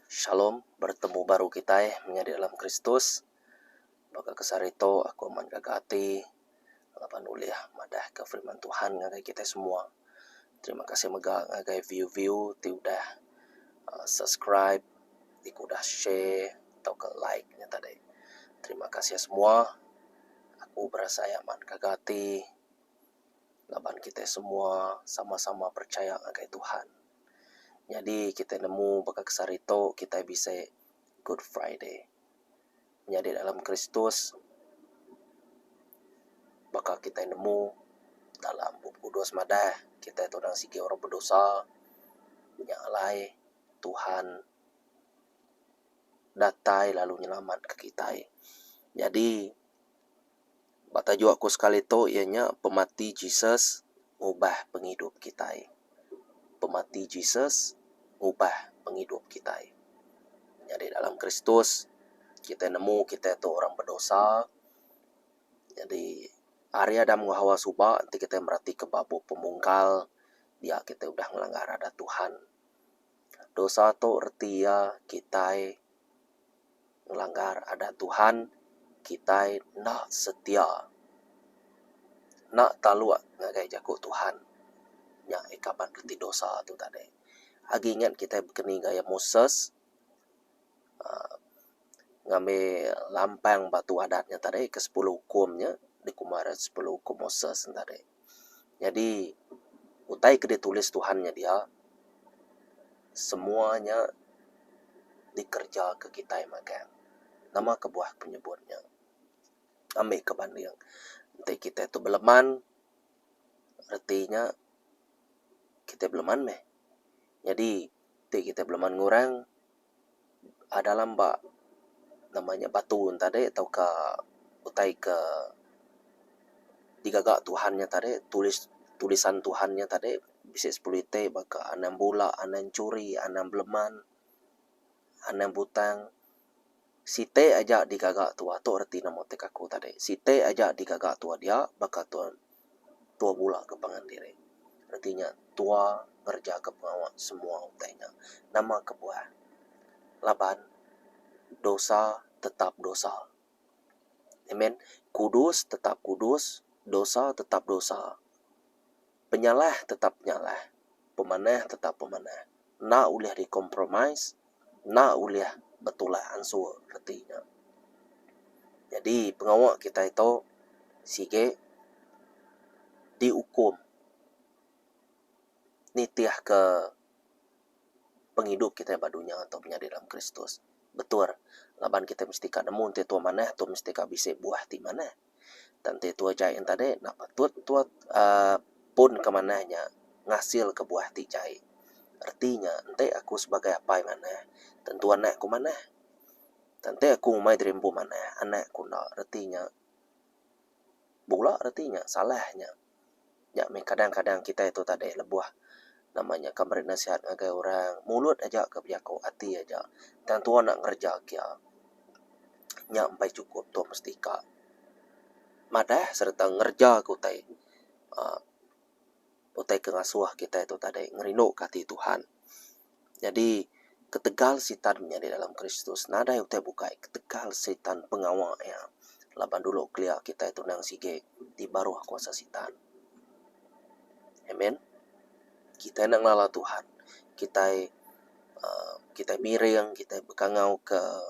Shalom, bertemu baru kitai menyadi dalam Kristus. Baka ke sehari tu aku amat ngaga ati laban ulih madahka firman Tuhan ngagai kitai semua. Terima kasih mega ngagai view view ti udah aaa subscribe ti ke udah share tauka like nya tadi. Terima kasih semua. Aku berasai amat ngaga ati. Laban kitai semua sama-sama percaya ngagai Tuhan. Nyadi kitai nemu baka ke sehari tu kitai bisi Good Friday. Menyadi dalam Kristus baka kitai nemu dalam Bup Kudus madah kitai tu dang sigi orang bedosa. Nya alai Tuhan datai lalu nyelamatka kitai. Nyadi Ba tajuk aku sekali tu iya nya pemati Jesus ngubah pengidup kitai. Pemati Jesus ngubah pengidup kitai. Nyadi dalam Kristus kitai nemu kitai tu orang bedosa. Nyadi ari Adam enggau Hawa suba enti kitai meratika ba bup pemungkal dia kitai udah ngelanggar adat Tuhan. dosa tu reti iya kitai ngelanggar adat Tuhan, kitai enda setia enda taluk ngagai jaku Tuhan. Nya ikaban reti dosa tu tadi. Agi ingat kitai bekeni gaya Moses aaa ngambi lampang batu adat nya tadi ke sepuluh ukum nya dikuma nya sepuluh ukum Moses nya tadi. Nyadi utai ke ditulis Tuhan nya dia semua nya dikerja ke kitai magang. Nama kebuah ku nyebut nya ambi ke banding enti kita tu beleman reti nya kita beleman meh. Nyadi. ti kita belaman ngurang aaa dalam ba nama nya batu nya tadi tauka utai ke digaga Tuhan nya tadi tulis tulisan Tuhan nya tadi bisi sepelu itik baka anang bula anang churi anang beleman anang butang. Siti aja digaga tua tu reti nama ti kaku tadi siti aja digaga tua dia baka tua tua bula ke pangan diri reti nya tua ngereja ke pengawa semua utai nya nama kebuah laban dosa tetap dosa amen kudus tetap kudus dosa tetap dosa. Penyalah tetap penyalah, pemanah tetap pemanah, enda ulih dikompromis, enda ulih betulak ansur reti nya. Nyadi pengawa kitai tu sigi diukum nitihka pengidup kitai ba dunya tu menyadi dalam Kristus. Betul laban kitai mesti ka nemu enti tu manah tu mesti ka bisi buah ti manah. Tang enti tua jai nya tadi enda patut tua aaa pun ke manah nya ngasil ke buah ti jai. Reti nya enti aku sebagai apai manah tentu anak ku manah. Tang enti aku ngumbai diri empu manah anak ku enda reti nya bula reti nya salah nya. Nya meh kadang-kadang kitai tu tadeh lebuh nama nya ka meri nasihat ngagai orang, mulut aja ka bejaku ati aja tang tua enda ngereja kia. Nya mbai chukup tua mesti ka madah sereta ngereja ke utai uhh utai ke ngasuh kitai tu tadeh ngerinduka ati Tuhan. Nyadi, ketegal Sitan menyadi dalam Kristus nadai utai bukai ketegal Sitan pengawa iya laban dulu kelia kitai tunang sigi ti baruh kuasa Sitan. Amen. Kitai enda ngelala Tuhan, kitai uhh kitai miring, kitai bekangauka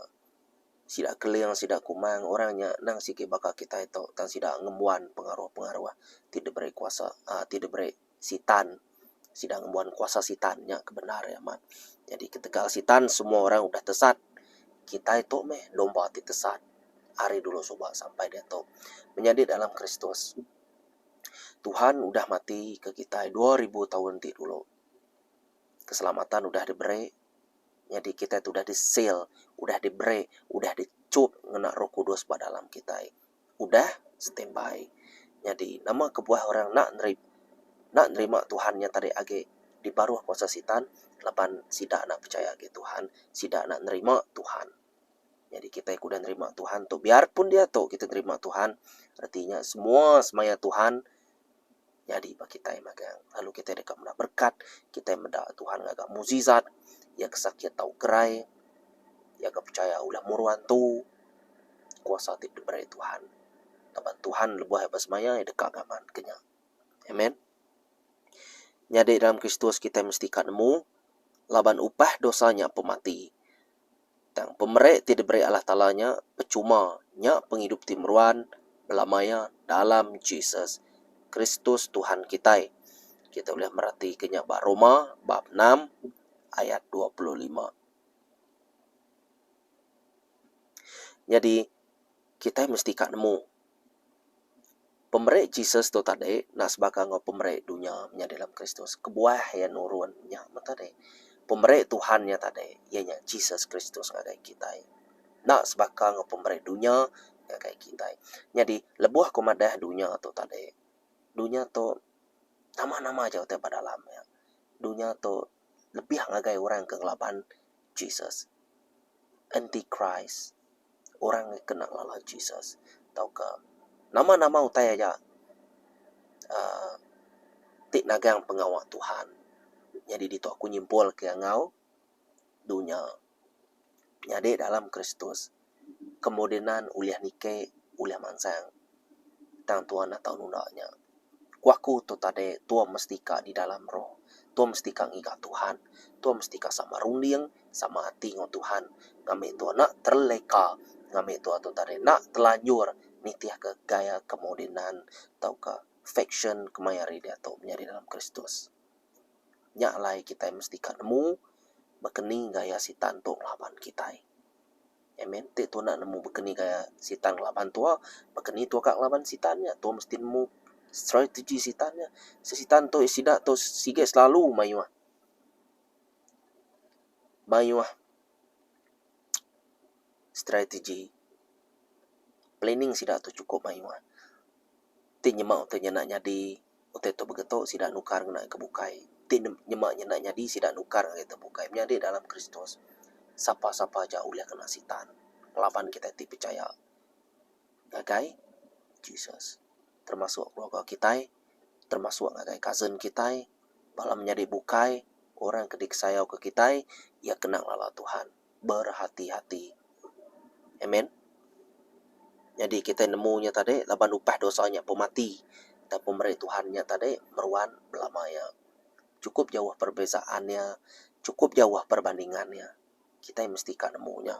sida keling, sida kumang, orang nya endang sigi baka kitai tu tang sida ngembuan pengaruh-pengaruh ti diberi kuasa uhh ti diberi Sitan. Sida ngembuan kuasa Sitan. Nya ke bendar iya amat. Nyadi ketegal Sitan, semua orang udah tesat. Kitai tu meh domba ti tesat ari dulu suba sampai diatu. Menyadi dalam Kristus, Tuhan udah matika kitai dua ribu taun ti dulu. Keselamatan udah diberi. Nyadi kitai tu udah di-seal, udah diberi, udah dichup ngena Roh Kudus ba dalam kitai. udah standby. Nyadi nama kebuah orang enda neri enda nerima Tuhan nya tadi agi di baruh kuasa Sitan laban sida enda pechaya agi Tuhan, sida enda nerima Tuhan. Nyadi kitai ke udah nerima Tuhan tu biarpun diatu kitai nerima Tuhan reti nya semua semaya Tuhan nyadi ba kitai magang lalu kitai deka meda berkat, kitai meda Tuhan ngaga mukjizat, iya ke sakit tau gerai, iya ke pechaya ulah muru antu. Kuasa ti diberi Tuhan laban Tuhan lebuh iya besemaya iya deka ngaman ke nya. Amen. Nyadi dalam Kristus kitai mesti ka nemu laban upah dosa nya pemati. Tang pemeri ti diberi Allah Taala nya pechuma, nya pengidup ti meruan bela maya dalam Jesus Kristus Tuhan kitai. Kitai ulih meratika nya ba Roma bab enam ayat dua puluh lima. Nyadi, kitai mesti ka nemu. Pemeri Jesus tu tadi enda sebaka enggau pemeri dunya menyadi dalam Kristus. Kebuah iya nurun nya meh tadi. Pemeri Tuhan nya tadi iya nya Jesus Kristus ngagai kitai. Enda sebaka enggau pemeri dunya ngagai kitai. Nyadi lebuh aku madah dunya tu tadi, dunya tu nama-nama aja utai ba dalam nya. Dunya tu lebih ngagai orang ke ngelaban Jesus. Anti-Kris. orang ngi kena ngelala Jesus tauka nama-nama utai aja uhh ti nagang pengawa Tuhan. Nyadi ditu aku nyimpulka enggau dunya nyadi dalam Kristus kemodenan ulih niki ulih mansang tang Tuhan enda tau nunda nya. Ku aku tu tadi tua mesti ka di dalam roh. Tua mesti ka ngiga Tuhan. Tua mesti ka sama runding, sama ati enggau Tuhan. Ngambi tua enda terleka, ngambi tua tu tadi enda telanjur nitihka gaya kemodenan tauka faksyen ke maya hari diatu menyadi dalam Kristus. Nya alai kitai mesti ka nemu bakani gaya Sitan tu ngelaban kitai. Amen ti tu enda nemu bekeni ka sitan ngelaban tua bekeni tua ka ngelaban sitan nya tua mesti nemu strategy sitan nya sitan tu sida tu siget selalu mayuh mayuh strategy planning sida tu sukup mayuh ti nyema utai nyadi. Utai tu mega tu sida nukar ngena ke bukai. Ti nyema nyenda nyadi sida nukar ngagai ke bukai. Menyadi dalam Kristus, sapa-sapa aja ulih ngena Sitan laban kitai ti pechaya ngagai Jesus. Termasuk keluarga kitai, termasuk ngagai cousin kitai, bala menyadi bukai, orang ke dikesayauka kitai, iya kena ngelala Tuhan. berhati-hati. Amen. Nyadi kitai nemu nya tadi laban upah dosa nya pun mati tang pemeri Tuhan nya tadi meruan belama iya. Chukup jauh perbezaan iya, chukup jauh perbandingan iya. Kitai mesti ka nemu nya.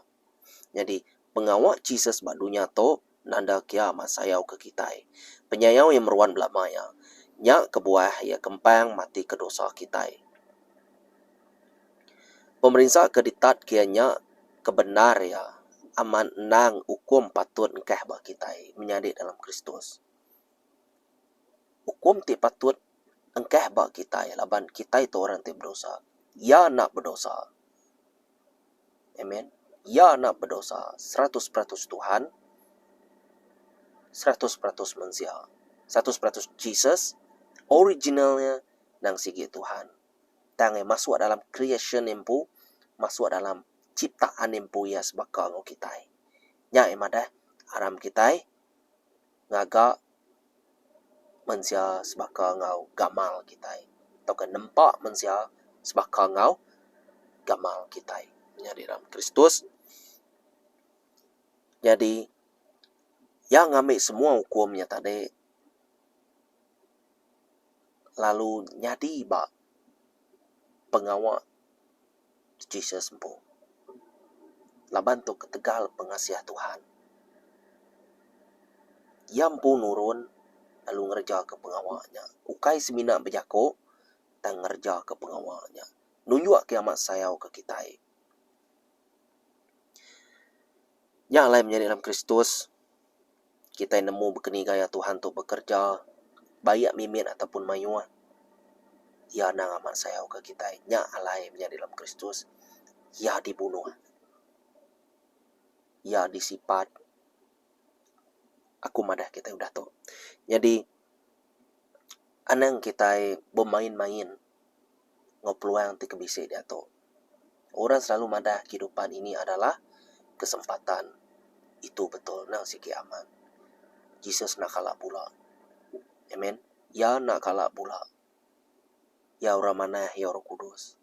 Nyadi. pengawa Jesus ba dunya tu nanda kia ma sayau ke kitai. Penyayau iya meruan belama iya. Nya kebuah iya kempang mati ke dosa kitai. Pemerinsa ke ditat kia nya ke bendar iya amat endang ukum patut engkah ba kitai menyadi dalam Kristus. Ukum ti patut engkah ba kitai laban kitai tu orang ti bedosa. Iya enda bedosa. Amen. Iya enda bedosa. Seratus peratus Tuhan. Seratus peratus mensia. Seratus peratus Jesus. Original nya nang sigi Tuhan. Tang iya masuk dalam creation empu. Masuk dalam ciptaan empu iya sebaka enggau kitai. Nya iya madah aram kitai. ngaga mensia sebaka enggau gamal kitai tauka nempa mensia sebaka enggau gamal kitai. Nyadi ram Kristus nyadi iya ngambi semua ukum nya tadi lalu nyadi ba pengawa. Jesus empu. Laban tu ketegal pengasih Tuhan, iya empu nurun lalu ngerejaka pengawa nya. Ukai semina bejako, tang ngerejaka pengawa nya nunjukka amat sayauka kitai. Nya alai menyadi dalam Kristus, kitai nemu bekeni gaya Tuhan tu bekereja, baik mimit ataupun mayuh. Iya anang amat sayauka kitai. Nya alai menyadi dalam Kristus, Iya dibunuh. Iya disipat. Aku madah kitai udah tu. Nyadi, anang kitai bemain-main. enggau peluang ti ke bisi diatu. Orang selalu madah kehidupan ini adalah kesempatan. Itu betul endang sigi amat. Jesus enda kala bula. Amen. Iya enda kala bula. Iya orang manah, iya orang kudus.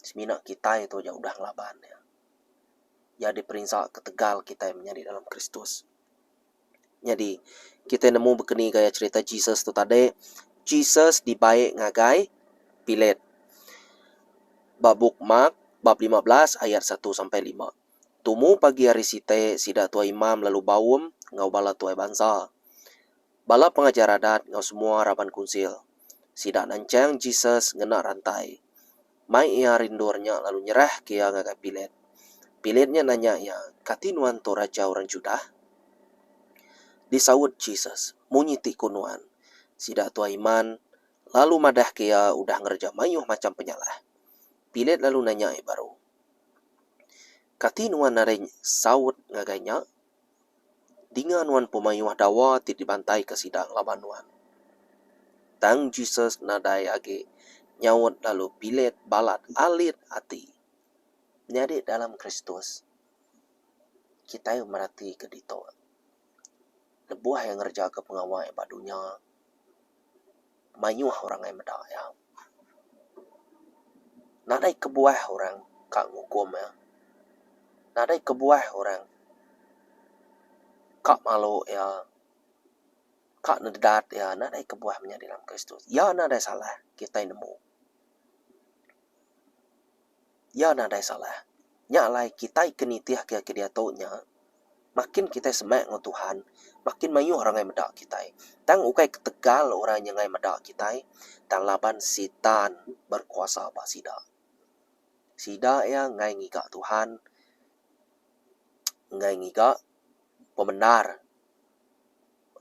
Semina kitai tu aja udah ngelaban iya. Iya diperinsa ketegal kitai menyadi dalam Kristus. Nyadi, kitai nemu bekeni gaya cherita Jesus tu tadi, Jesus dibai ngagai Pilat. Ba bup Mark bab lima belas ayat satu sampai lima. Tumu pagi hari siti, sida tuai imam lalu baum enggau bala tuai bansa, bala pengajar adat enggau semua raban kunsil. Sida nanchang Jesus ngena rantai. Mai iya rindur nya lalu nyerahka iya ngagai Pilat. Pilat nya nanya iya, Kati nuan tu Raja orang Judah? Disaut Jesus, Munyi ti ku nuan. Sida tu Iman, lalu madahka iya udah ngereja mayuh macham penyalah. Pilat lalu nanya iya baru, Kati nuan nadai saut ngagai nya? Dinga nuan pemayuh dawa ti dibantaika sida ngelaban nuan. Tang Jesus nadai agi nyaut lalu bilet balat alit ati. Nyadi dalam Kristus, kitai meratika ditu. Lebuh iya ngerejaka pengawa iya ba dunya, mayuh orang ngai meda iya. Nadai kebuah orang ka ngukum iya. Nadai kebuah orang ka malu iya, ka nedat iya. Nadai kebuah menyadi dalam Kristus. Iya nadai salah kitai nemu. Iya nadai salah. Nya alai kitai ke nitihka ke diatu nya, makin kitai semak enggau Tuhan, makin mayuh orang ngai meda kitai. Tang ukai ketegal orang nya ngai meda kitai, tang laban Sitan berkuasa ba sida. Sida iya ngai ngiga Tuhan, ngai ngiga pemendar.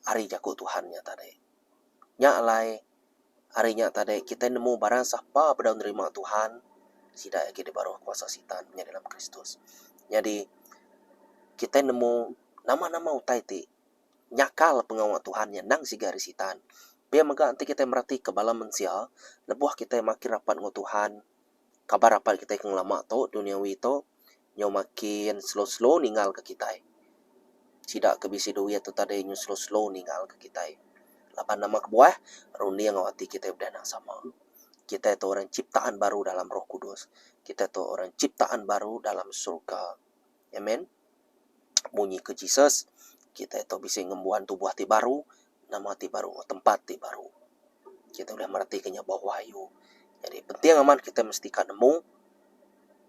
ari jaku Tuhan nya tadi. Nya alai hari nya tadi kitai nemu barang sapa bedau nerima Tuhan sida agi dibaruh kuasa Sitan menyadi dalam Kristus. Nyadi kitai nemu nama-nama utai ti nyakal pengawa Tuhan nya endang siga ari Sitan. Pia mega enti kitai meratika bala mensia lebuh kitai makin rapat enggau Tuhan kaban rapat kitai ke ngelama tu duniawi tu nyau makin slow slow ningal ke kitai. Sida ke bisi duit tu tadi nyau slow slow ningal ke kitai. Laban nama kebuah runding au ati kitai udah nang sama. Kitai tu orang ciptaan baru dalam roh kudus. Kitai tu orang ciptaan baru dalam surga. Amen. munyi ke Jesus, kitai tu bisi ngembuan tubuh ti baru, nama ti baru, tempat ti baru. Kitai ulih mereti ke nya bauh ayu. Nyadi penting amat kitai mesti ka nemu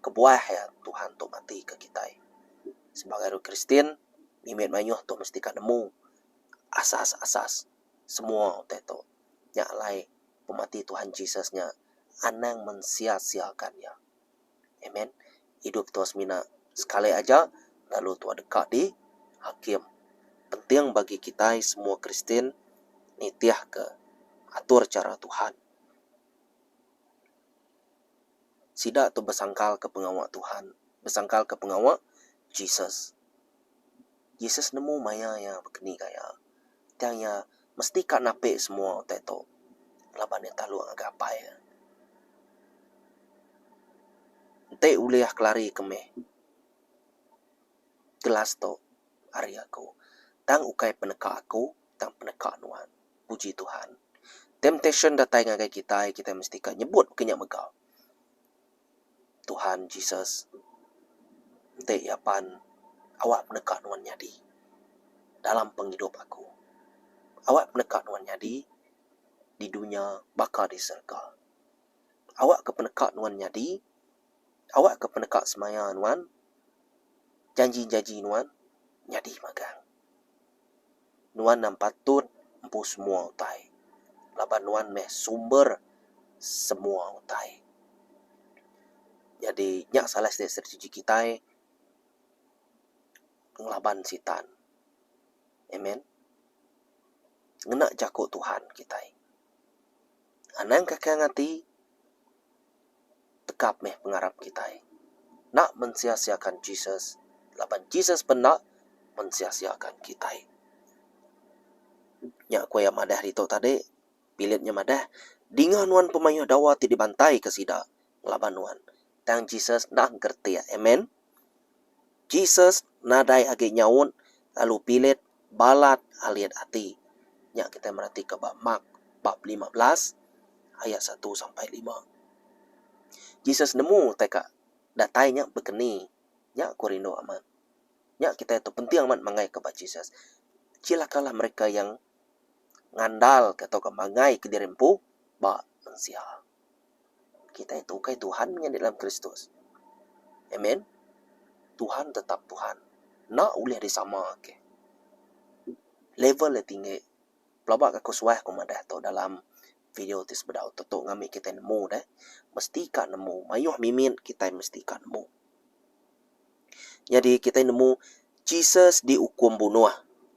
kebuah iya Tuhan tu ngatike kitai. Sebagai orang Kristian, mimit mayuh tu mesti ka nemu asas-asas semua utai tu. Nya alai pemati Tuhan Jesus nya anang mensia-siakan iya. Amen. Idup tua semina sekali aja lalu tua deka di hakim. Penting bagi kitai semua Kristian nitihka atur chara Tuhan. Sida tu besangkalka pengawa Tuhan, besangkalka pengawa Jesus. Jesus nemu maya iya bekeni ka iya, tang iya mesti ka napi semua utai tu laban iya talu ngagai Apai iya. Enti ulih kelari ke meh gelas tu ari aku, tang ukai peneka aku, tang peneka Nuan. Puji Tuhan. Temptation datai ngagai kitai, kitai mesti ka nyebut ke nya mega. Tuhan Jesus enti iya pan awak peneka nuan nyadi dalam pengidup aku. Awak peneka nuan nyadi di dunya baka di serega. Awak ke peneka nuan nyadi awak ke peneka semaya nuan janji-janji nuan nyadi magang. nuan nang patut empu semua utai laban nuan meh sumber semua utai. Nyadi nya salah siti strategi kitai ngelaban sitan. Amen. Ngena jaku Tuhan kitai. Anang kakang ati tekap meh pengarap kitai. Enda mensia-siakan Jesus laban Jesus pun enda mensia-siakan kitai. Nya ku iya madah ditu tadi. Pilip nya madah, Dinga nuan pemayuh dawa ti dibantaika sida, ngelaban nuan. Tang Jesus enda ngeretik. Amen. Jesus nadai agi nyaut lalu bilit balat alit ati. Nya kitai meratika ba Mark bab lima belas ayat satu sampai lima. Jesus nemu utai ka datai nya bekeni. Nya aku rindu amat. Nya kitai tu penting amat mangaika ba Jesus. Celakalah mereka yang ngandalka tauka manggaika diri empu ba mensia. Kitai tu ukai Tuhan meh nyadi dalam Kristus. Amen. Tuhan tetap Tuhan. Enda ulih disama agi. Level iya tinggi. Pelaba ke aku suah ku madah tu dalam video ti sebedau tu tu ngambi kitai nemu deh. Mesti ka nemu. Mayuh mimit kitai mesti ka nemu. Nyadi kitai nemu Jesus diukum bunuh.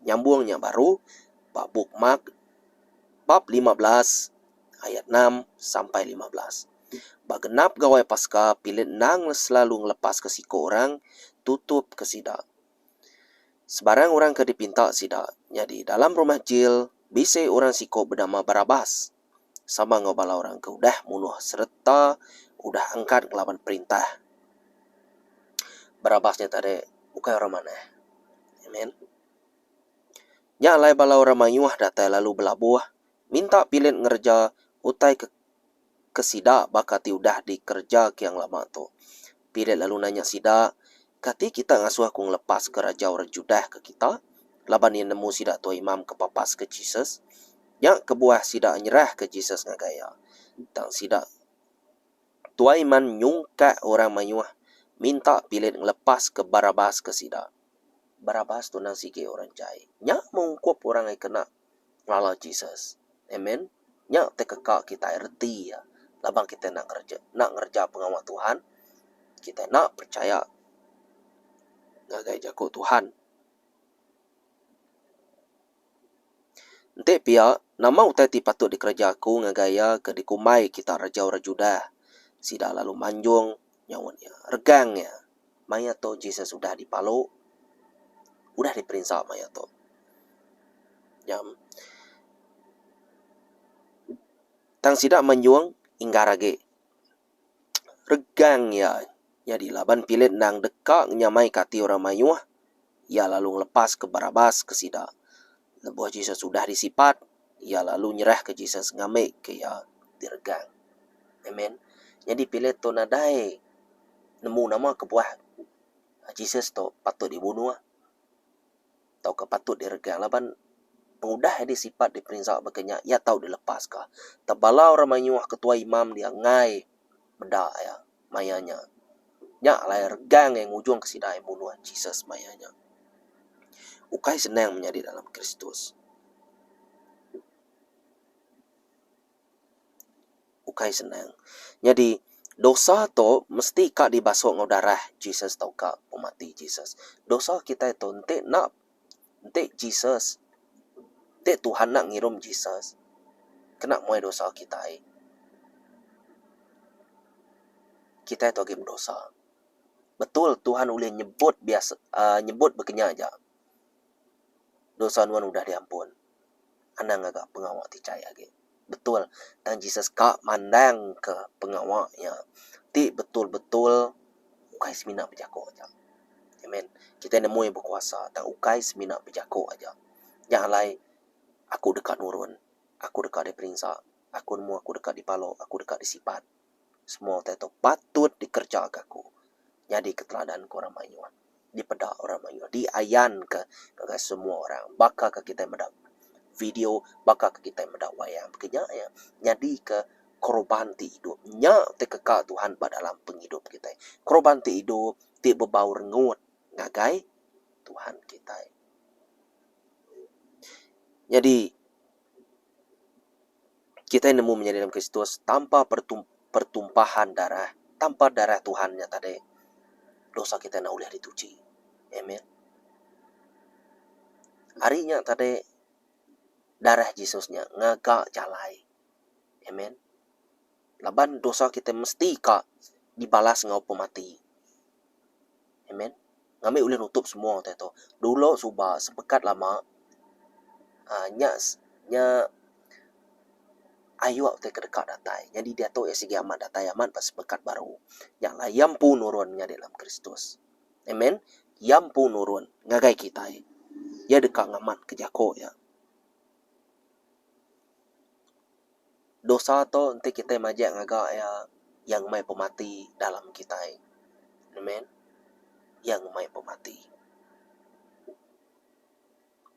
Nyambung nya baru ba bup Mark bab lima belas ayat enam sampai lima belas. Ba genap Gawai Paska Pilat endang selalu ngelepaska siko orang tutup ke sida. Sebarang orang ke dipinta sida. Nyadi dalam rumah jil bisi orang siko benama Barabas. sama enggau bala orang ke udah munuh sereta udah engkat ngelaban perintah. Barabas nya tadi ukai orang manah. Amen. Nya alai bala orang mayuh datai lalu belabuh minta Pilit ngereja utai ke ke sida baka ti udah dikereja Kiang Lama tu. Pilit lalu nanya sida, Kati kita ngasuh aku ngelepaska raja orang Judah ke kita? Laban iya nemu sida tua imam ke papaska Jesus. Nya kebuah sida nyerahka Jesus ngagai iya. Tang sida tua iman nyungkak orang mayuh minta Pilat ngelepaska Barabas ke sida. Barabas tu endang sigi orang jai. Nya mengungkup orang ai kena Ngelala Jesus. Amen. Nya ti keka kitai reti iya. Laban kitai enda ngereja enda ngereja pengawa Tuhan, kitai enda perechaya ngagai jaku Tuhan. Enti pia, nama utai ti patut dikereja aku ngagai iya ke dikumbai kitak reja orang Judah? Sida lalu manjung nyaut iya. Regang iya. maya tu Jesus udah dipalu, udah diperinsa maya tu. Nyam, tang sida menyung inggar agi. Regang iya nyadi laban Pilip endang deka nyamaika ati orang mayuh, iya lalu ngelepaska Barabas ke sida. Lebuh Jesus udah disipat, iya lalu nyerahka Jesus ngambika iya diregang. Amen. Nyadi Pilate tu nadai nemu nama kebuah Jesus tu patut dibunuh tauka patut diregang laban pengudah iya disipat diperinsa baka nya iya tau dilepaska. Tebala orang mayuh ketua imam dia enggai. meda iya maya nya. Nya alai regang iya ngujungka sida iya munuh Jesus maya nya. Ukai senang menyadi dalam Kristus. Ukai senang. Nyadi, dosa tu mesti ka dibasuh enggau darah Jesus tauka pemati Jesus. Dosa kitai tu enti enda. Enti Jesus, enti Tuhan enda ngirum Jesus, kena muai dosa kitai. Kitai tu agi bedosa. Betul Tuhan ulih nyebut biasa uhh nyebut baka nya aja. Dosa nuan udah diampun. anang ngaga pengawa ti chai agi betul tang Jesus ka mandangka pengawa iya ti betul-betul ukai semina bejaku aja. Amen. Kitai nemu iya bekuasa tang ukai semina bejaku aja. Nya alai aku deka nurun, aku deka diperinsa, aku nemu aku deka dipalu, aku deka disipat. Semua utai tu patut dikerejaka aku nyadika teladan ku orang mayuh. dipeda orang mayuh, diayanka ngagai semua orang. Baka ke kitai meda video, baka ke kitai meda wayang ti nya iya nyadika koroban ti idup. Nya ti keka Tuhan ba dalam pengidup kitai. Koroban ti idup ti bebau rengut ngagai Tuhan kitai. Nyadi. Kitai nemu menyadi dalam Kristus tanpa pertumpahan darah, tanpa Darah Tuhan nya tadi, dosa kitai enda ulih dituchi. Amen. Ari nya tadi, Darah Jesus nya ngaga jalai. Amen. laban dosa kitai mesti ka dibalas enggau ukum mati. Amen. Ngambi ulih nutup semua utai tu. Dulu suba sepekat lama aaa nya nya ayuh utai ke deka datai. Nyadi diatu iya sigi amat datai amat ba sepekat baru. Nya alai iya empu nurun nyadi dalam Kristus. Amen. Iya empu nurun ngagai kitai. Iya deka ngamatka jaku iya. Dosa tu enti kitai majak ngaga iya, iya ngemai pemati dalam kitai. Amen. Iya ngemai pemati.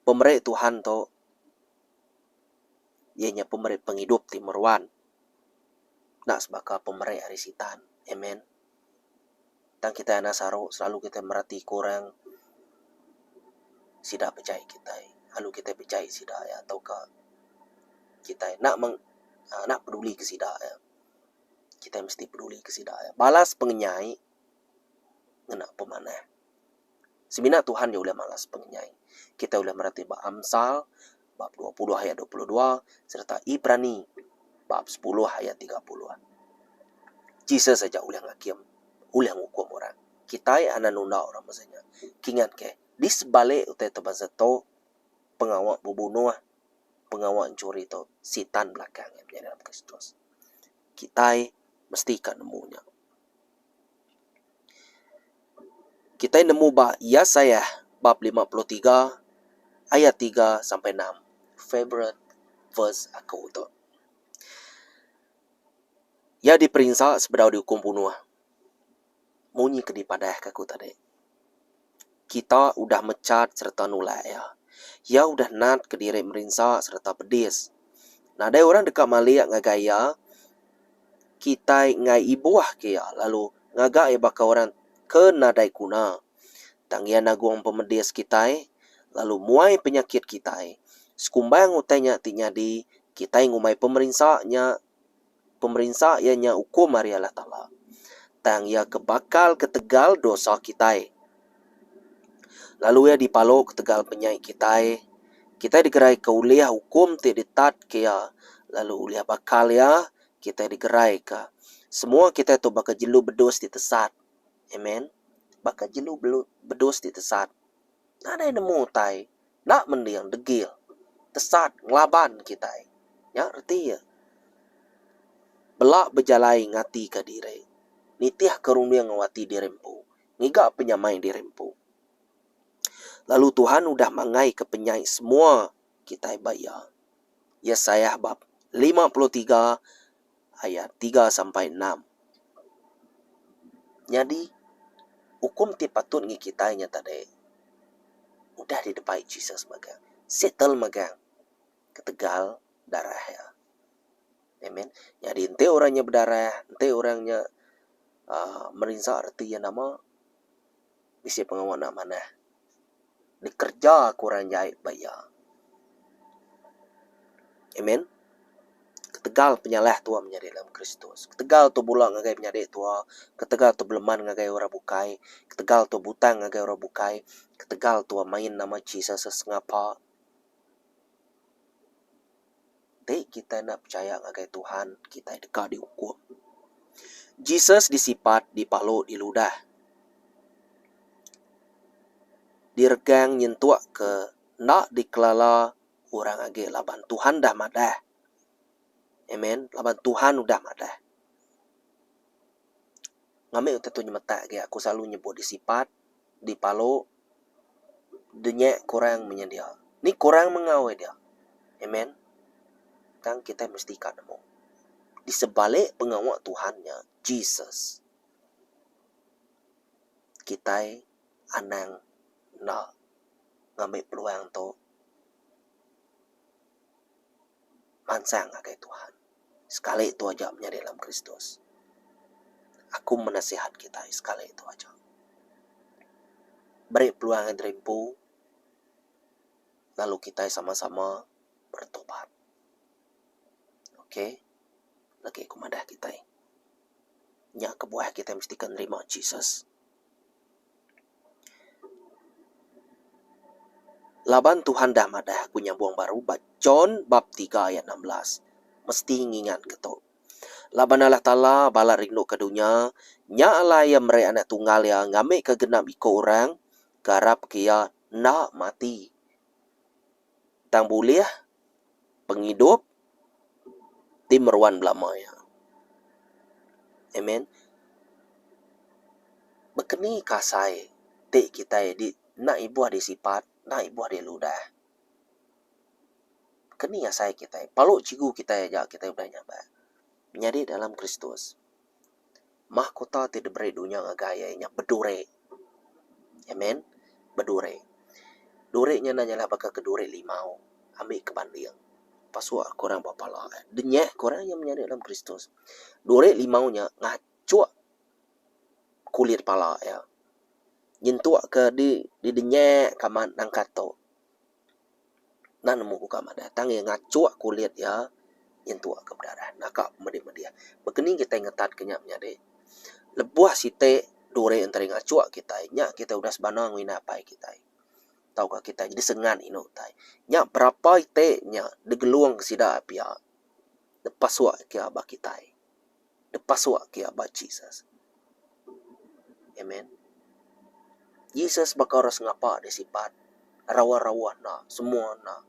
Pemeri Tuhan tu iya nya pemeri pengidup ti meruan. Enda sebaka pemeri ari Sitan. Amen. Tang kitai anak saru selalu kitai meratika orang sida pejai kitai lalu kitai pejai sida iya tauka kitai enda meng uhh enda peduli ke sida iya. Kitai mesti peduli ke sida iya balas pengenyai ngena pemanah. Semina Tuhan nya ulih malas pengenyai. Kitai ulih merati ba Amsal bab dua puluh ayat dua puluh dua sereta Ibrani bab sepuluh ayat tiga puluh. Jesus aja ulih ngakim, ulih ngukum orang. Kitai anak nunda orang beza nya. Kingatkah, di sebalik utai tu bansa tu, pengawa bebunuh, pengawa nchuri tu Sitan belakang iya menyadi dalam Kristus. Kitai mesti ka nemu nya. Kitai nemu ba Yesaiah bab lima puluh tiga ayat tiga sampai enam. Favourite verse aku tu. Iya diperinsa sebedau diukum bunuh. Munyi ke dipadahka aku tadi. Kita udah mechat sereta nulak iya. Iya udah natka diri merinsa sereta pedis. Nadai orang deka malik ngagai iya kitai enggai ibuhka iya lalu ngaga iya baka orang ke nadai guna. Tang iya nagung pemedis kitai lalu muai penyakit kitai. Sekumbang utai nya ti nyadi kitai ngumbai pemerinsa nya Pemerinsa iya nya ukum ari Allah Taala, tang iya ke bakal ketegal dosa kitai. Lalu iya dipalo ketegal penyai kitai. Kitai digeraika ulih ukum ti ditatka iya, lalu ulih bakal iya kitai digeraika. Semua kitai tu baka jelu bedus ti tesat. Amen. Baka jelu bedus ti tesat nadai nemu utai. enda mending degil, tesat, ngelaban kitai. Nya reti iya. Bela bejalai ngatika diri, nitihka runding enggau ati diri empu, ngiga penyamai diri empu. Lalu Tuhan udah manggaika penyai semua kitai ba Iya. Yesaiah bab lima puluh tiga Ayat tiga sampai enam. Nyadi, ukum ti patut ngi kitai nya tadi udah didebai Jesus megang. Settle megang ketegal darah iya. Amen. Nyadi enti orang nya bedarah, enti orang nya uhh merinsa reti iya nama, bisi pengawa enda manah dikereja ke orang jai ba iya. Amen. Ketegal penyalah tua menyadi dalam Kristus, ketegal tua bula ngagai menyadi tua, ketegal tua beleman ngagai orang bukai, ketegal tua butang ngagai orang bukai, ketegal tua main nama Jesus sesengapa. Enti kitai enda pechaya ngagai Tuhan, kitai deka diukum. Jesus disipat dipalu di ludah. Diregang nyentuk ke enda dikelala orang agi laban Tuhan dah madah. Amen. Laban Tuhan udah madah. Ngambika tu nyemetak agi aku selalu nyebut disipat. dipalu denyek kurang menyedia ni kurang mengau ida. Amen tang kitai mesti ka nemu di sebalik pengawa Tuhan nya Jesus kitai anang enda ngambi peluang tu. mansang ngagai Tuhan. Sekali tu aja menyadi dalam Kristus. Aku menasihat kitai sekali tu aja. Beri peluang ngagai diri empu lalu kitai sama-sama beretobat. Ok. Lagi ku madah kitai. Nya kebuah kitai mesti ke nerima Jesus. Laban Tuhan dah madah aku nyambung baru ba John bab tiga ayat enam belas, mesti ngingatka tu. Laban Allah Taala balat rinduka dunya, nya alai Iya meri Anak Tunggal Iya ngambika genap iku orang ke arapka Iya enda mati. tang bulih pengidup ti meruan belama iya. Amen. Baka ni kasai ti kitai di enda ibuh di sipat, enda ibuh di ludah. Ke ni asai kitai? Palu Chigu kitai aja kitai udah nyabak. Menyadi dalam Kristus. Mahkota ti diberi dunya ngagai iya inya beduri. Amen. Beduri. Duri nya enda nyala baka ke duri limau. Ambika banding. Pasuk aku orang ba pala eh. Denyah aku orang iya menyadi dalam Kristus. Duri limau nya ngachuk kulit pala iya. Nyentukka di didenyahka amat nangkah tu. Enda nemu buka madah tang iya ngachuk kulit iya nyentuk ke bedarah naka pemedih-medih. Baka ni kitai ngetatka nya menyadi? Lebuh siti duri enti ari ngachuk kitai nya kitai udah sebana ngena apai kitai tauka kitai nyadi sengat inu utai. Nya berapa iti nya degelung sida pia nepasuk ke ba kitai. dipasuk kia ba Jesus. Amen. Jesus baka orang sengapa dia sipat. Rawa-rawa enda. Semua enda.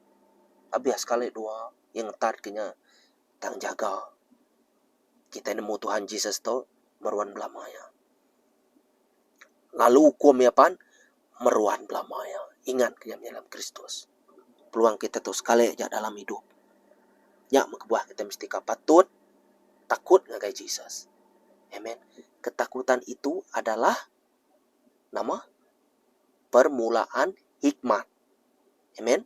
Abih sekali dua, iya ngetat ke nya, tang jaga. Kitai nemu Tuhan Jesus tu, meruan belama iya. Lalu ukum iya pan, meruan belama iya. Ingat ke nya meh dalam Kristus. Peluang kita tu sekali aja dalam idup. Nya meh kebuah kita mesti ka patut takut ngagai Jesus. Amen. Ketakutan itu adalah nama? Permulaan hikmat. Amen.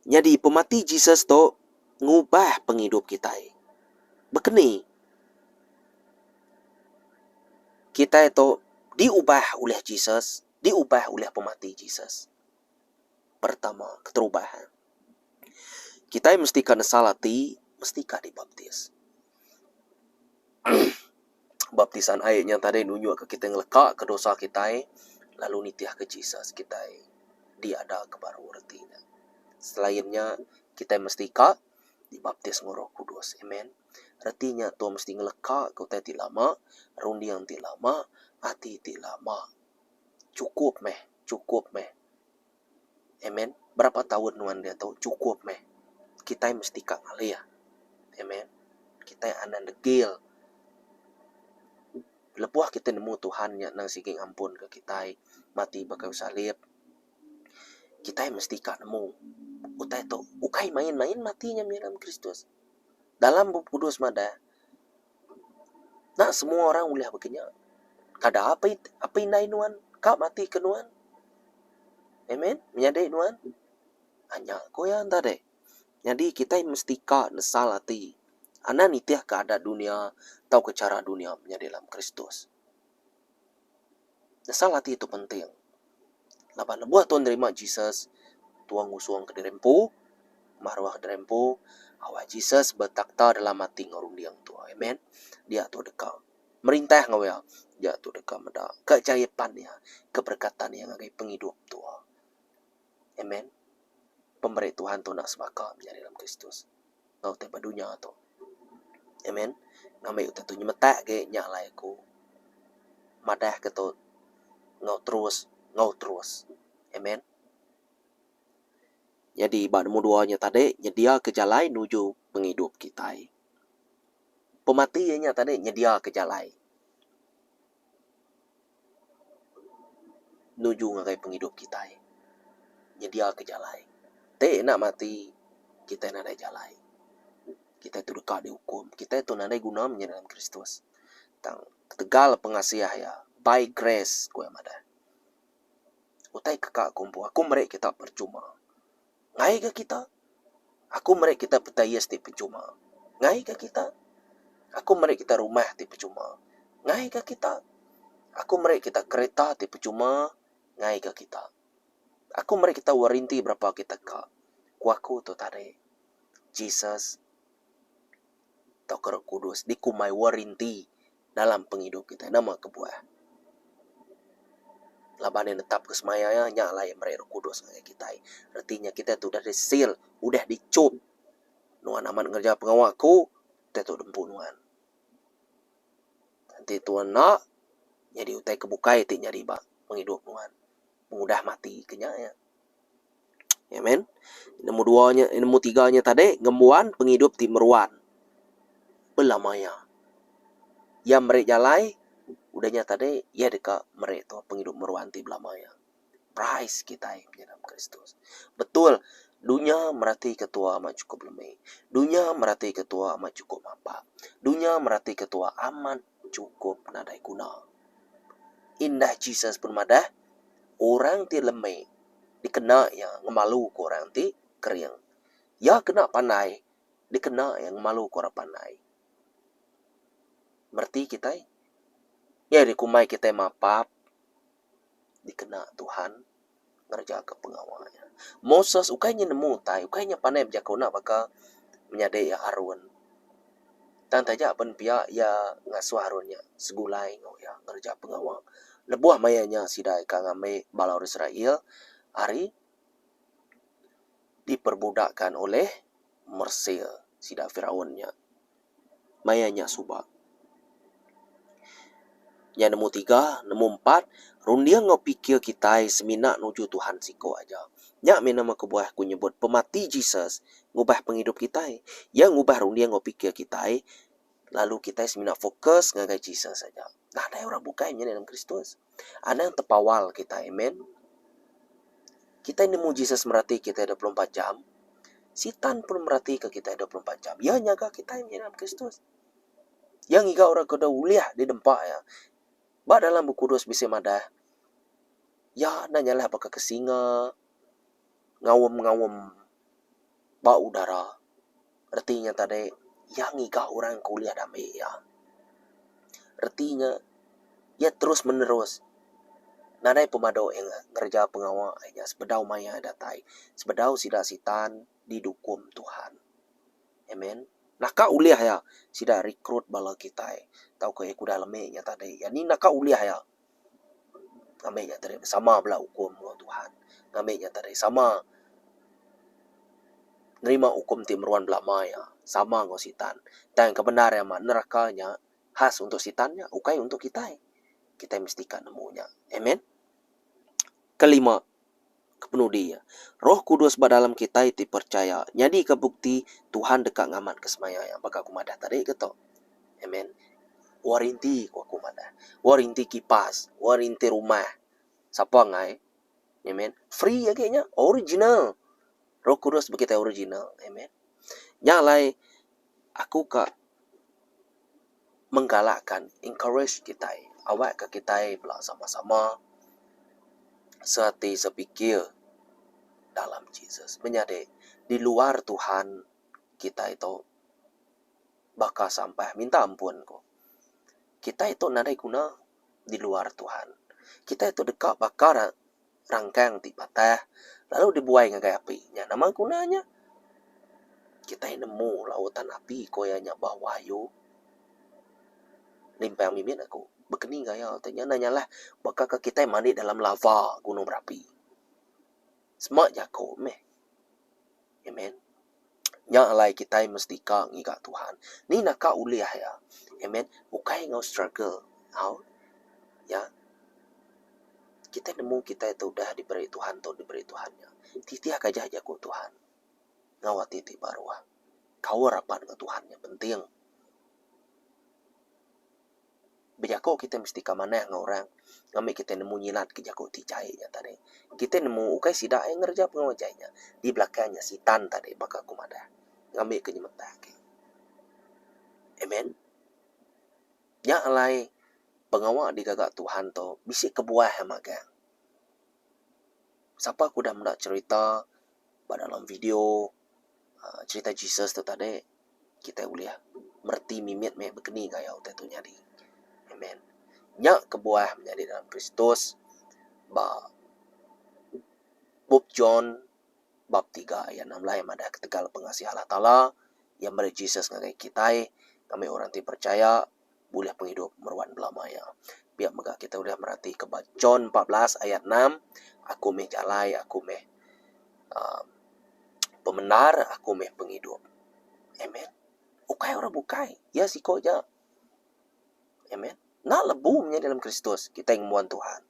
Nyadi pemati Jesus tu ngubah pengidup kitai. Baka ni kitai tu diubah ulih Jesus, diubah ulih pemati Jesus? Pertama, keterubah. Kitai mesti ka nesal ati, mesti ka dibaptis. Baptisan ai nyang tadi nunjukka kitai ngelekaka dosa kitai lalu nitihka Jesus kitai diada ke baru reti ne. Selain nya kitai mesti ka dibaptis enggau Roh Kudus. Amen. Reti nya tu mesti ngelekaka utai ti lama, runding ti lama, ati ti lama. Chukup meh. Chukup meh. Amen. Berapa taun nuan dia tu chukup meh. Kitai mesti ka ngalih. Amen. Kitai anang degil lebuh kitai nemu Tuhan nya nang sigi ngampunka kitai mati ba kayu salib. Kitai mesti ka nemu utai tu ukai main-main mati nya mih dalam Kristus. Dalam Bup Kudus madah. Nya semua orang ulih baka nya. Kada apa apa indai nuan ka mati ke nuan. Amen. Menyadi nuan. Nah nya ku iya enta deh. Nyadi kitai mesti ka nesal ati anak nitihka adat dunya tauka chara dunya menyadi dalam Kristus. Nyesal ati tu penting. Laban lebuh tu nerima Jesus, Tuhan ngusungka diri empu, maruhka diri empu, awak Jesus betakhta dalam ati enggau runding tu. Amen. Dia tu deka merintah enggau iya. Dia tu deka meda keajaipan iya, keberekatan iya ngagai pengidup tu. Amen. Pemeri Tuhan tu enda sebaka menyadi dalam Kristus. enggau ti ba dunya tu. Amen. Ngambi utai tu nyemetak agi nya alai aku madahka tu enggau terus enggau terus. Amen. Nyadi ba nombor dua nya tadi nyediaka jalai nuju pengidup kitai. Pemati iya nya tadi nyediaka jalai. Nuju ngagai pengidup kitai. Nyediaka jalai. Ti enda mati, kitai nadai jalai. Kitai tu deka diukum. Kitai tu nadai guna menyadi dalam Kristus. Tang ketegal pengasih Iya, by grace, ku Iya madah. Utai keka aku empu. Aku meri kita perchuma. Ngai ga kita? Aku meri kita petayus ti pechuma. Ngai ga kita? Aku meri kita rumah ti pechuma. Ngai ga kita? Aku meri kita kereta ti pechuma. Ngai ga kita? Aku meri kita warinti berapa agi tega, ku aku tu tadi. Jesus. tauka roh kudus dikumbai warinti dalam pengidup kitai. Nama kebuah? Laban iya netapka semaya iya, nya alai iya meri roh kudus ngagai kitai. Reti nya kitai tu udah diseal, udah dichup. Nuan amat ngereja pengawa aku, kitai tu diempu nuan. Enti tuan enda, nyadi utai ke bukai ti nyadi ba pengidup nuan pengudah mati ke nya iya. Amen. Nemu dua nya, nemu tiga nya tadi ngembuan pengidup ti meruan. Bela maya. Iya meri jalai udah nya tadi iya deka meri tu pengidup meruan ti bela maya. Praise kitai punya Nama Kristus. Betul dunya merati ketua amat chukup lemi. Dunya merati ketua amat chukup mapak. Dunya merati ketua amat chukup nadai guna. Indah Jesus pun madah. orang ti lemi dikena iya ngemaluka orang ti kering. Iya kena pandai dikena iya ngemaluka orang pandai. Mereti kitai nyadi kumbai kitai mapap dikena Tuhan ngerejaka pengawa iya. Moses ukai inya nemu utai, ukai inya pandai bejaku enda baka menyadi iya Arun. Tang taja pen pia iya ngasuh arun nya segulai enggau iya ngereja pengawa. Lebuh maya nya sida ika ngambi bala orang Israel ari diperbudakan ulih Mesir sida Firaun nya. Maya nya suba. Nya nemu tiga, nemu empat, runding enggau pikir kitai semina nuju Tuhan siko aja. Nya mih nama kebuah aku nyebut pemati Jesus ngubah pengidup kitai. Iya ngubah runding enggau pikir kitai lalu kitai semina fokus ngagai Jesus aja. Nadai orang bukai nyadi anak Kristus. Anang tepawal kitai. Amen. Kitai nemu Jesus merati kitai dua puluh empat jam. Sitan pun merati kitai dua puluh empat jam. Iya nyaga kitai nyadi anak Kristus. Iya ngiga orang ke udah ulih didempa iya. Ba dalam Bup Kudus bisi madah, Iya enda nyalah baka ke singa ngaum-ngaum ba udara. Reti nya tadi, Iya ngiga orang ke ulih dame iya. Reti nya, Iya terus menerus nadai pemadu iya ngereja pengawa iya sebedau maya iya datai, sebedau sida Sitan. didukum Tuhan. Amen. Naka ulih iya sida rekrut bala kitai tauka iya kudah lemi nya tadi. Iya ni naka ulih iya ngambi nya tadi sama bela ukum enggau Tuhan. Ngambi nya tadi sama nerima ukum ti meruan belama iya sama enggau Sitan. Tang ke bendar iya mah neraka nya khas untuk Sitan nya ukai untuk kitai. Kitai mesti ka nemu nya. Amen. Kelima. Kepenudi iya, Roh Kudus ba dalam kitai ti percaya nyadika bukti Tuhan deka ngamatka semaya iya baka aku madah tadi ke tu. Amen. Warinti ku aku madah. Warinti kipas, warinti rumah. Sapa ngai? Amen. Free agi nya. Original. Roh Kudus ba kitai original. Amen. Nya alai aku ka menggalakkan, encourage, kitai awakka kitai bala sama-sama seati sepikir dalam Jesus. Menyadi di luar Tuhan kitai tu baka sampah minta ampun ku. Kitai tu nadai guna di luar Tuhan. Kitai tu deka baka rangkang ti patah lalu dibuai ngagai api nya nama guna nya? Kitai nemu lauk tan api ko iya nya bah wayu. Nimpang mimit aku bekeni gaya ti nya enda nyalah baka ke kitai mandi dalam lava gunung berapi. Sema jako meh. Amen. Nya alai kitai mesti ka ngiga Tuhan. Ni naka ulih iya. Amen. Ukai enggau struggle. Au. Ya. Kitai nemu kitai tu udah diberi Tuhan tu diberi Tuhan nya. Titihka aja jaku Tuhan. Enggau ati ti baruh. Kaul rapat enggau Tuhan nya penting. Bejaku kitai mesti ka manah enggau orang ngambi kitai nemu nyilatka jaku ti jai nya tadi. Kitai nemu ukai sida aja ngereja pengawa jai nya. Di belakang nya sitan tadi baka aku madah ngambika nyemetak agi. Amen. Nya alai pengawa digaga Tuhan tu bisi kebuah magang. Sapa ke udah meda cherita ba dalam video. cherita Jesus tu tadi kitai ulih mereti mimit meh bekeni gaya utai tu nyadi. Amen. Nya kebuah menyadi dalam Kristus ba bup John bab tiga ayat enam belai madah ketegal pengasih Allah Taala iya meri Jesus ngagai kitai ngambi orang ti percaya bulih pengidup meruan belama iya. Pia mega kitai udah meratika ba John empat belas ayat enam, Aku meh jalai, aku meh uhh pemendar, aku meh pengidup. Amen. Ukai orang bukai, iya siko aja. Amen. Enda lebu menyadi dalam Kristus kitai ngembuan Tuhan.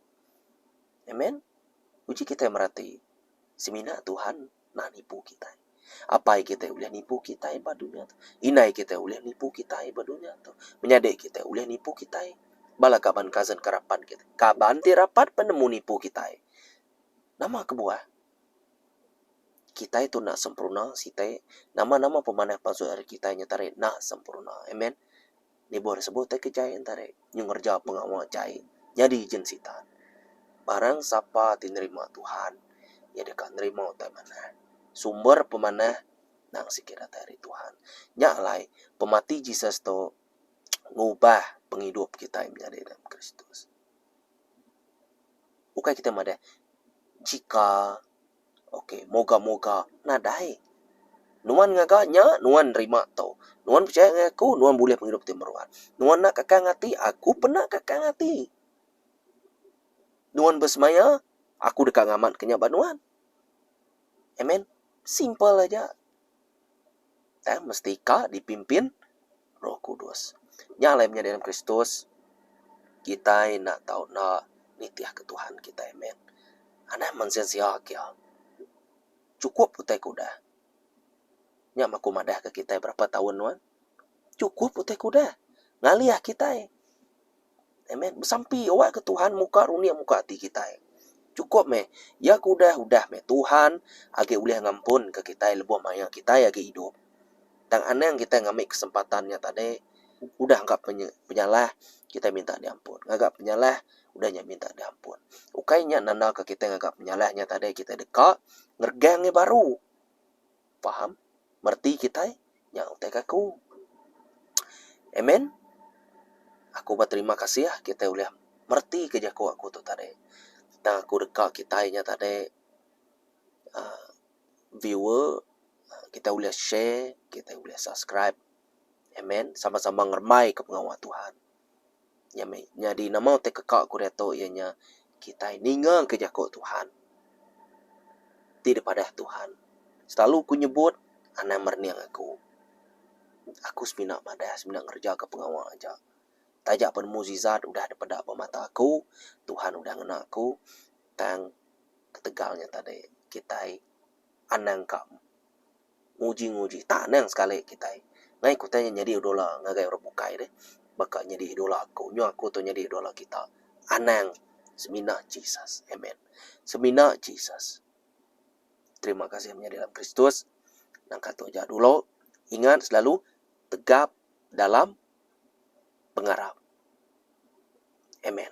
Amen. Uji kitai merati semina Tuhan. Nah nipu kitai. Apai kitai ulih nipu kitai ba dunya tu. Indai kitai ulih nipu kitai ba dunya tu. Menyadi kitai ulih nipu kitai. Bala kaban cousin ke rapat kitai. Kaban ti rapat pun nemu nipu kitai. Nama kebuah? Kitai tu enda sempurna, siti. Nama-nama pemanah pansut ari kitai nya tadi enda sempurna. Amen. Nibor sebut ai ke jai Entarik nyu ngereja pengawa jai nyadi jin Sitan. Barang sapa ti nerima Tuhan, iya deka nerima utai manah. Sumber pemanah endang sigi datai ari Tuhan. Nya alai, pemati Jesus tu ngubah pengidup kitai menyadi dalam Kristus. Ukai kitai madah jika. Ok moga moga nadai. Nuan ngaga nya nuan nerima tu. Nuan pechaya ngan aku nuan bulih pengidup ti meruan. Nuan enda kakang ati aku pun enda kakang ati. Nuan besemaya aku deka ngamatka nya ba nuan. Amen. Simple aja. Eh, mesti ka dipimpin Roh Kudus. Nya alai menyadi dalam Kristus, kitai enda tau enda nitihka Tuhan kitai. Amen. Anang mensia-sia kia. Chukup utai ke udah. Nya mah ku madahka kitai berapa taun nuan. Chukup utai kuda ngalih kitai. Amen. Besampi awak ke Tuhan muka runik muka ati kitai. Chukup meh ya ke udah udah meh Tuhan agi ulih ngampun ke kitai lebuh maya kitai agi idup. Tang anang kitai ngambi kesempatan nya tadi udah angka penyalah kitai minta di ampun ngaga penyalah udah nya minta di ampun. Ukai nya nanda ke kitai ngaga penyalah nya tadi kitai deka ngeregang nya baru. Faham? Mereti kitai? Nya utai ke aku. Amen? Aku beterima kasih kitai ulih meretika jaku aku tu tadi. Tang aku deka kitai nya tadi uhh viewer kitai ulih share, kitai ulih subscribe. Amen? Sama-sama ngerembaika pengawa Tuhan. Nyadi nama utai keka ku diatu iya nya kitai ninga ka jaku Tuhan ti dipadah Tuhan silalu ku nyebut anang merening aku. Aku semina madah semina ngereja ka pengawa aja taja pen mujizat udah dipeda ba mata aku Tuhan udah ngena aku tang ketegal nya tadi kitai anang ka. nguji-nguji tanang sekali kitai ngai kutai nya nyadi idola ngagai orang bukai deh baka nyadi idola aku nyu aku tu nyadi idola kita anang semina Jesus amen semina Jesus terima kasih menyadi dalam Kristus nangka tu aja dulu ingat selalu tegap dalam pengarap amen.